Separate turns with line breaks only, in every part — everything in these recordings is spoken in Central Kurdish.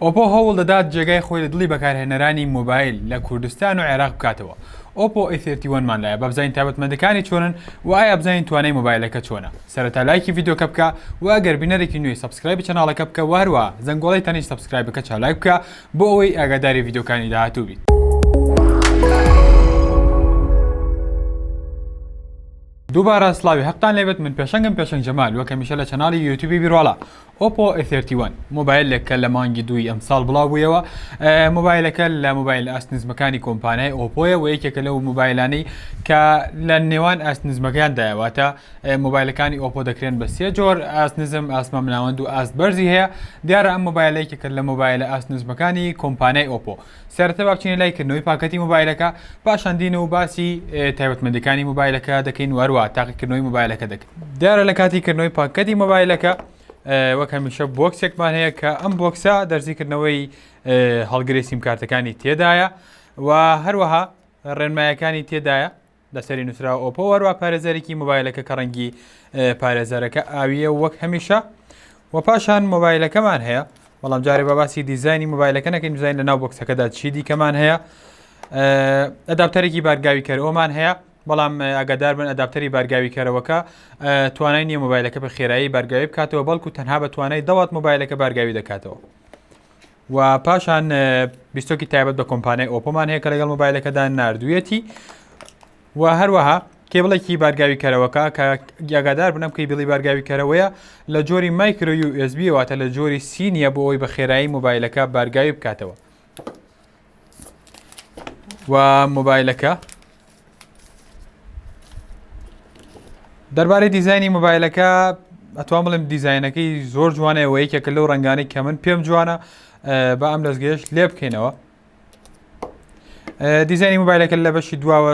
ئۆپۆ هەوڵ دەدات جێگای خۆی لە دڵی بەکارهێنەرانی مۆبایل لە کوردستان و عێراق بکاتەوە، ئۆپۆ ئەی سێڤتی وەن مان لایە با بزانین تایبەتمەندەکانی چۆنن و ئایا بزانین توانای مۆبایلەکە چۆنە سەرەتا لایکی ڤیدیۆکە بکە و ئەگەر بینەرێکی نوێی سەبسکرایبی چەناڵەکە بکە و هەروەها زەنگۆڵەی تەنیشت سەبسکرایبەکە چالاک بکە بۆ ئەوەی ئاگاداری ڤیدیۆکانی داهاتوو بیت. دووبارە سڵاوی هەقتان لێبێت من پێشەنگم پێشەنگ جەمال وەک هەمیشە لە چەناڵی یوتیوبی بیرواڵا ئۆپۆ ئێ ثێرتی وەن، مۆبایلێک کە لە مانگی دووی ئەمساڵ بڵاوبوویەوە، مۆبایلەکە لە مۆبایلە ئاست نزمەکانی کۆمپانیای ئۆپۆیە و یەکێکە لەو مۆبایلانەی کە لە نێوان ئاست نزمەکاندایە، واتە مۆبایلەکانی ئۆپۆ دەکرێن بە سێ جۆر، ئاست نزم، ئاست مامناوەند و ئاست بەرزی هەیە، دیارە ئەم مۆبایلە یەکێکە لە مۆبایلە ئاست نزمەکانی کۆمپانیای ئۆپۆ. سەرەتا با بچینە لای کردنەوەی پاکەتی مۆبایلەکە پاشان دینە و باسی تایبەتمەندەکانی مۆبایلەکە دەکەین وەروە تاقیکردنەوەی مۆبایلەکە دەکەین دیارە لە کاتی کردنەوەی پاکەتی مۆبایلەکە وەک هەمیشە بۆکسێکمان هەیە کە ئەم بۆکسە دەرزیکردنەوەی هەڵگری سیمکارتەکانی تێدایە و هەروەها ڕێنمایەکانی تێدایە لەسەری نووسراوە ئۆپۆ وەروا پارێزەرێکی مۆبایلەکە کە ڕەنگی پارێزەرەکە ئاویە وەک هەمیشە و پاشان مۆبایلەکەمان هەیە بەڵام جارێ بە باسی دیزانی مۆبایلەکە نەکەین دیزین لە ناو بکسەکەدا چی دیکەمان هەیە ئەداپتەرێکی بارگاوی کەرەوەمان هەیە بەڵام ئەگەدار بن ئەداپتەری بارگاوی کەرەوەکە توانای نیە مۆبایلەکە بە خێرایی بارگاوی بکاتەوە بەڵکو تەنها بە توانای دەوات مۆبایلەکە بارگاوی دەکاتەوە و پاشان بیستۆکی تایبەت بە کۆمپانیای ئۆپۆمان هەیە کە لەگەڵ مۆبایلەکەدا نردویەتی و هەروەها کێبڵێکی بارگاوی کەرەوەکە کە گیاگادار بنەم کەی بڵی بارگاوی کەرەوەیە لە جۆری مایکرۆ و ئسبیواتە لە جۆری سینیە بۆ ئەوی بە خێرایی مۆبایلەکە بارگاوی بکاتەوە و مۆبایلەکە دەربارەی دیزایانی مۆبایلەکە ئەتوان بڵێم دیزایەنەکەی زۆر جوانە ئەوە یەکێکە لەو ڕنگانی کە من پێم جوانە بە ئەم دەستگەشت لێ بکەینەوە دیزانی موبایلەکە لە بەشی دواوە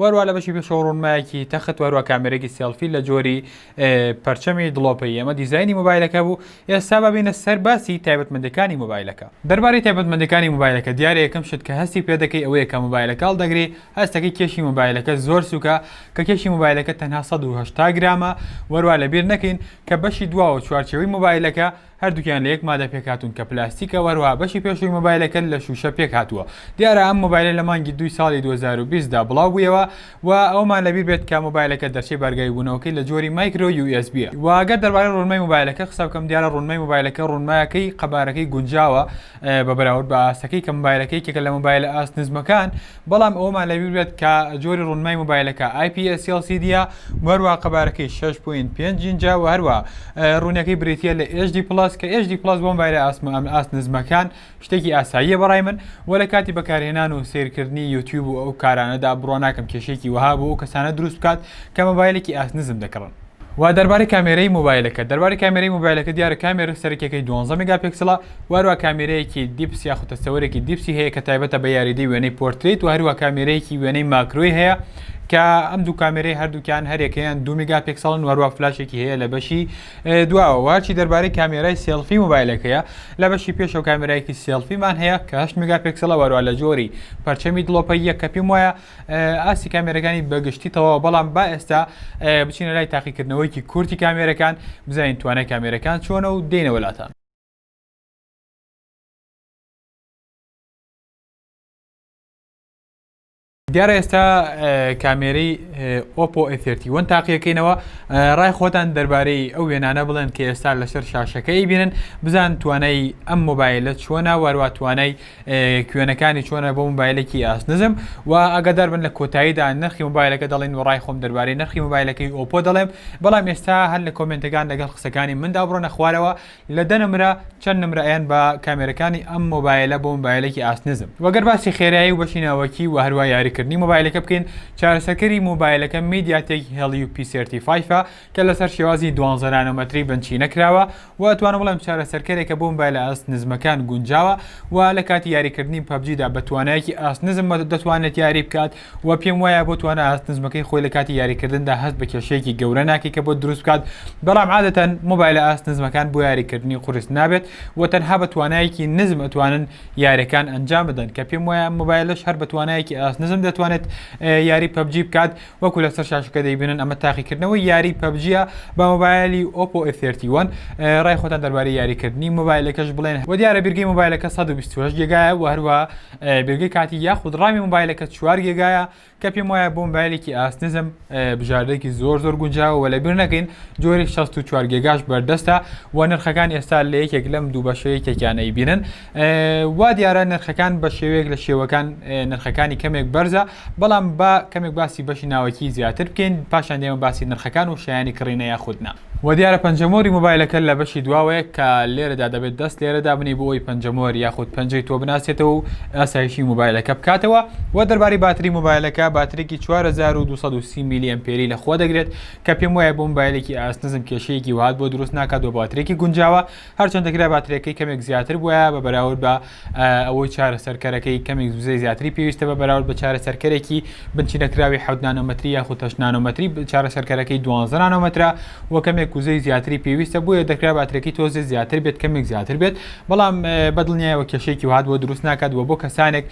وەروا لە بەشی پێشەوە ڕوونمایەکی تەخت وەروا کامێرێکی سێڵفی لە جۆری پەرچەمی دڵۆپەی ئەمە دیزایانی مۆبایلەکە بوو ئێستا ببینە سەر باسی تایبەتمەندەکانی مۆبایلەکە دەربارەی تایبەتمەندەکانی مۆبایلەکە دیارە یەکەم شت کە هەستی پێ دەکەی ئەوەیە کە مۆبایلەکە هەڵدەگری هەستەکەی کێشی مۆبایلەکە زۆر سوکە کە کێشی مۆبایلەکە تەنها سەد و هەشتا گرامە وەروا لەبیر نەکەین کە بەشی دواوە چوارچێوەی مۆبایلەکە هەردووکیان لە یەک مادە پێکهاتوون کە پلاستیکە و هەروەها بەشی پێشووی مۆبایلەکەت لە شووشە پێکهاتووە دیارە ئەم مۆبایلە لە مانگی دووی ساڵی دوو هەزار و بیست دا بڵاو بوویەوە و ئەوەمان لەبیر بێت کە مۆبایلەکە دەرچەی بارگای بوونەوەکەی لە جۆری مایکرۆ یو ئێس بییە. وە گەر دەربارەی ڕوونمای مۆبایلەکە قسە بکەم دیارە ڕوونمای مۆبایلەکە ڕوونمایەکەی قەبارەکەی گونجاوە، بە بەراورد بە ئاستەکەی کە مۆبایلەکە یەکێکە لە مۆبایلە ئاست نزمەکان بەڵام ئەوەمان لەبیر بێت کە جۆری ڕونمای مۆبایلەکە IPS LCD وەروە قەبارەکەی 6.5 ئینجا و هەروە ڕوونەکەی بریتە لە HD پلس کە HD پلس بۆ مۆبایلە ئاسمە ئەم ئاست نزمەکان شتێکی ئاساییە بەڕای من و لە کاتی بەکارهێنان و سیرکردنی یوتیوب و ئەو کارانەدا بڕۆ ناکەم کێشێکی وەها بۆ ئەو کەسانە دروست بکات کە مۆبایلێکی ئاست نزم دەکڕن و دەربارەی کامێرەی مۆبایلەکەت دەربارەی کامێرەی مۆبایلەکە دیارە کامێرە سەرەکیەکەی دوانزە میگاپیکسڵە و هەروە کامێرەیەکی دیپس یاخود تەستەوەرێکی دیپسی هەیە کە تایبەتە بە یاریدەی وێنەی پۆرتریت و هەروە کامێرەیەکی وێنەی ماکرۆی هەیە کە ئەم دوو کامێرەی هەردووکیان هەرێکەیان دو میگاپیکسڵن وەروە فلاشێکی هەیە لە بەشی دواوە وارچی دەربارەی کامێرای سێلفی مۆبایلەکەیە لە بەشی پێشەوە کامێرایەکی سێلفیمان هەیە کە هەشت میگاپیکسڵە وەروە لە جۆری پەرچەمی دڵۆپەیە کە پێم وایە ئاستی کامێرەکانی بەگشتی تەواو بەڵام با ئێستا بچینە لای تاقیکردنەوەیکی کورتی کامێرەکان بزانین توانای کامێرەکان چۆنە و دێنەوەلاتان دیارە ئێستا کامێرەی ئۆپۆ ئەفێرتیوەن تاقیەکەینەوە ڕای خۆتان دەربارەی ئەو وێنانە بڵێن کە ئێستا لەسەر شاشەکەی بینن بزان توانای ئەم مۆبایلە چووە ناواروا توانای کوێنەکانی چۆنە بۆ موبایلێکی ئاست نزم و ئەگەدار بن لە کۆتاییدا نرخی موبایلەکە دەڵێن و ڕای خۆم دەربارەی نرخی موبایلەکەی ئۆپۆ دەڵێم بەڵام ئێستا هەر لە کۆمنتەکان لەگەڵ قسەکانی مندا بڕۆنە خوارەوە لە دە نمرە چەند نمرەیان بە کامێرەکانی ئەم مۆبایلە بۆ موبایلێکی ئاست نزم وەگەر باسی خێرایی و بەشی ناوەکی و هەروە یاریکردنی موبایلەکە بکەین چارەسەکەری موبایلەکە میدیاتێک هێڵی و پیسێرتی فایفە کە لەسەر شێوازی دوانزە نانۆمەتری بنچینە کراوە و ئەتوانم بڵێم چارەسەرکەرێکە بۆ مبایلە ئاست نزمەکان گونجاوە و لە کاتی یاریکردنی پەبجیدا بە توانایەکی ئاست نزم دەتوانێت یاری بکات و پێم وایە بۆ توانا ئاست نزمەکەی خۆی لە کاتی یاریکردندا هەست بە کێشەیەکی گەورە ناکەی کە بۆ دروست بکات بەڵام عادەتەن مبایلە ئاست نزمەکان بۆ یاریکردنی قورس نابێت و تەنها بە توانایەکی نزم ئەتوانن یاریەکان ئەنجام بدەن کە پێم وایە مبایلش هەر بە توانایەکی ئاست نزم دەتوانێت یاری پەبجی بکات وەکو لەسەر شاشەکە دەیبینن ئەمە تاقیکردنەوەی یاری پەبجیە بە مۆبایلی ئۆپۆ ئێفێرتیوەن ڕای خۆتان دەربارەی یاریکردنی مۆبایلەکەش بڵێن و دیارە بیرگەی مۆبایلەکە 128 گێگایە و هەروە بیرگەی کاتی یاخود ڕامی مۆبایلەکە چوار گێگایە کە پێم وایە بۆ مۆبایلێکی ئاست نزم بژاردەێکی زۆر زۆر گونجاوە و لە بیر نەکەین جۆری 64 گێگاش بەردەستە و نرخەکان ئێستا لە یەکێک لەم دوو بەشەیە تێکیانەی بینن وا دیارە نرخەکان بە شێوەیەک لە شێوەکان نرخەکانی کەمێک بەرزە بەڵام با کەمێک باسی بەشی ناوەکی زیاتر بکەین پاشان دێمە باسی نرخەکان و شایانی کڕینە یاخودنا و دیارە پەنجەمۆری مۆبایلەکە لە بەشی دواوەیە کە لێرەدا دەبێت دەست لێرە دابنێی بۆ ئەوی پەنجەمۆر یاخود پەنجەی تۆ بناسێتەوە و ئاسایشی مۆبایلەکە بکاتەوە و دەربارەی باتری مۆبایلەکە باترێکی 4230 میلی ئەمپێری لە خۆ دەگرێت کە پێم وایە بۆ مۆبایلێکی ئاست نزم کێشەیەکی وهات بۆ دروست ناکات و باترێکی گونجاوە هەرچەند دەکرا باترێکەی کەمێک زیاتر بووە بە بەراورد بە ئەوەی چارەسەرکەرەکەی کەمێک زوزەی زیاتری پێویستە بە بەراورد بە چارەسەرکەرێکی بنچی نەکراوی حەوت نانۆمەتری یاخود تەش نانۆمەتری چارەسەرکەرەکەی دوانزە نانۆمەترە و کەمێک وزەی زیاتری پێویستە بۆیە دەکرا باترێکی تۆزێ زیاتر بێت کەمێک زیاتر بێت بەڵام بەدڵنیایەوە کێشێکی وهات بۆ دروست ناکات و بۆ کەسانێک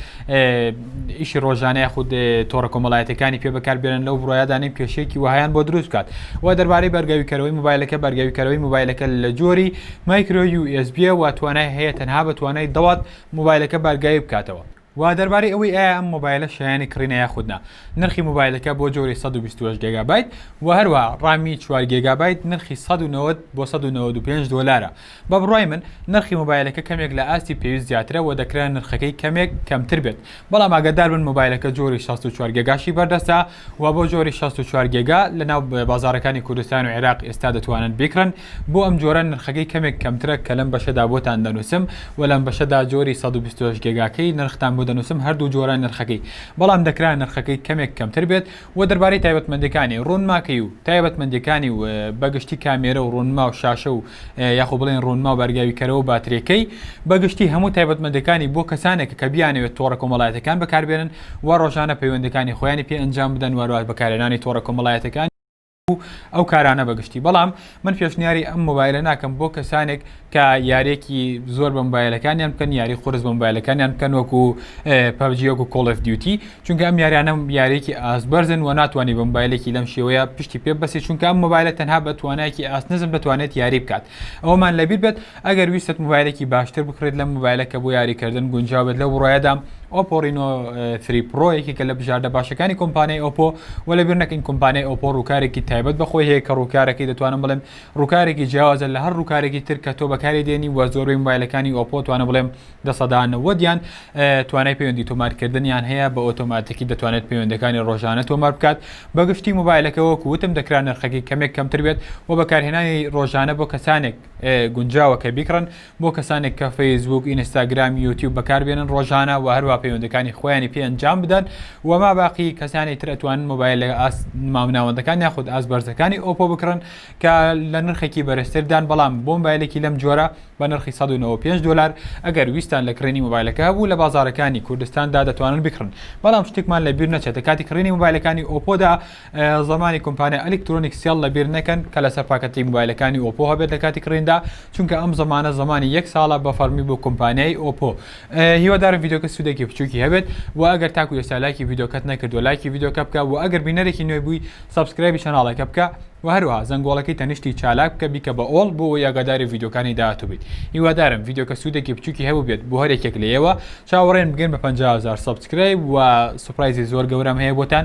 ئیشی ڕۆژانە یاخود تۆڕە کۆمەڵایەتەکانی پێ بەکاربێنن لەو بڕایدا نیم کێشەیەکی وهیان بۆ دروست بکات و دەربارەی بەرگاویکەرەوەی موبایلەکە بەرگاویکەرەوەی موبایلەکە لە جۆری مایکرۆ USB و توانای هەیە تەنها بە توانای دەوات موبایلەکە بارگاوی بکاتەوە. و دەربارەی ئەوەی ئایا ئەم مۆبایلە شایانی کڕینە یاخود نا نرخی موبایلەکە بۆ جۆری سەد و بیست و هەشت گێگابایت و هەروەها ڕامی چوار گێگابایت نرخی سەد و نەوەد بۆ سەد و نەوەد و پێنج دۆلارە بە بڕوای من نرخی مۆبایلەکە کەمێک لە ئاستی پێویست زیاترە وە دەکرا نرخەکەی کەمێک کەمتر بێت بەڵام ئاگادار بن مۆبایلەکە جۆری شەست و چوار گێگاشی بەردەستە وە بۆ جۆری شەست و چوار گێگا لە ناو بازاڕەکانی کوردستان و عێراق ئێستا دەتوانن بیکڕن بۆ ئەم جۆرە نرخەکەی کەمێک کەمترە کە لەم بەشەدا بۆتان دەنوسم وە لەم بەشەدا جۆری سەد و بیست و هەشت گێگاکەی نرختان بۆ دەنوسم هەردوو جۆرە نرخەکەی بەڵام دەکرا نرخەکەی کەمێک کەمتر بێت وە دەربارەی تایبەتمەندێکانی ڕوونماکەی و تایبەتمەندێکانی و بە گشتی کامێرە و ڕوونما و شاشە و یاخۆ بڵێن ڕوونما و بارگاوی کەرەوە و باترێکەی بە گشتی هەموو تایبەتمەندێکانی بۆ کەسانێکە کە بیانەوێت تۆڕە کۆمەڵایەتەکان بەکاربێنن و ڕۆژانە پەیوەندەکانی خۆیانی پێ ئەنجام بدەن وارواش بەکارهێنانی تۆڕە کۆمەڵایەتەکانی و ئەو کارانە بەگشتی بەڵام من پێشنیاری ئەم مۆبایلە ناکەم بۆ کەسانێک کە یارێکی زۆر بە مۆبایلەکانیان بکەن یاری خورس بە مۆبایلەکانیان بکەن وەکو پەبجیەک و کۆڵف دیوتی چونکە ئەم یاریانە یارێکی ئاست بەرزن و ناتوانانی بە مۆبایلێکی لەم شێوەیە پشتی پێ بەسی چونکە ئەم مۆبایلە تەنها بە توانایکی ئاست نزم دەتوانێت یاری بکات ئەومان لەبییر بێت ئەگەر ویستت موبایلێکی باشتر بکڕیت لەم موبایلە کە بۆ یاریکردن گونجاو بێت لەو بڕوایەدام ئۆپۆ ڕینۆ ثری پرۆ یەکێکە لە بژاردە باشەکانی کۆمپانیای ئۆپۆ و لەبیر نەکەین کۆمپانیای ئۆپۆ ڕووکارێکی تایبەت بە خۆی هەیە کە ڕووکارەکەی دەتوانم بڵێم ڕووکارێکی جیاوازە لە هەر ڕووکارێکی تر کە تۆ بەکاری دێنی وە زۆربەی موبایلەکانی ئۆپۆ توانە بڵێم دە سەدا نەوەدیان توانای پەیوەندی تۆمارکردنیان هەیە بە ئۆتۆماتیکی دەتوانێت پەیوەندەکانی ڕۆژانە تۆمار بکات بەگشتی موبایلەکە وەکو وتم دەکرا نرخەکەی کەمێک کەمتر بێت و بەکارهێنانی ڕۆژانە بۆ کەسانێک گونجاوە کە بیکڕن بۆ کەسانێک کە فەیسبووک، ئینستاگرام، یوتیوب بەکاربێنن ڕۆژانە و هەروە پەیوەندەکانی خۆیانی پێ ئەنجام بدەن و ما باقی کەسانی تر ئەتوانن مۆبایل لە ئاس مامناوەندەکان یاخود ئاس بەرزەکانی ئۆپۆ بکڕن کە لە نرخێکی بەرزتردان بەڵام بۆ مۆبایلێکی لەم جۆرە بە نرخی 195 دلار ئەگەر ویستان لە کڕینی مۆبایلەکە هەبوو لە بازارەکانی کوردستاندا دەتوانن بکڕن بەڵام شتێکمان لە بیر نەچێتە کاتی کڕینی مۆبایلەکانی ئۆپۆدا زمانی کۆمپانیا ئەلیکترۆنیک سێڵ لەبیر نەکەن کە لەسەر پاکەتی موبایلەکانی ئۆپۆ هەبێت لە کاتی کڕیندا چونکە ئەم زمانە زمانی یەک ساڵە بە فەڕمی بۆ کۆمپانیای ئۆپۆ هیوادارم ڤیدۆکە سودێکی بچوکی هەبێت و ئەگەر تاکو ئێستا لایکی ڤیدۆکەت نەکردوە لایکی ڤیدۆکە بکە و ئەگەر بینەرێکی نوێ بووی سەبسکرایبی چەناڵەکە بکە و هەروها زەنگۆڵەکەی تەنیشتی چالاک بکە بیکە بە ئۆڵ بۆ ئەوەی ئاگاداری ڤیدۆکانی داهاتوو بیت هیوادارم ڤیدۆکە سودێکی بچوکی هەبوبێت بۆ هەرێکێک لە ئێوە چاوەڕێن بگەن بە پەنجا هەزار سەبسکرایب و سوپرایزی زۆر گەورەم هەیە بۆتان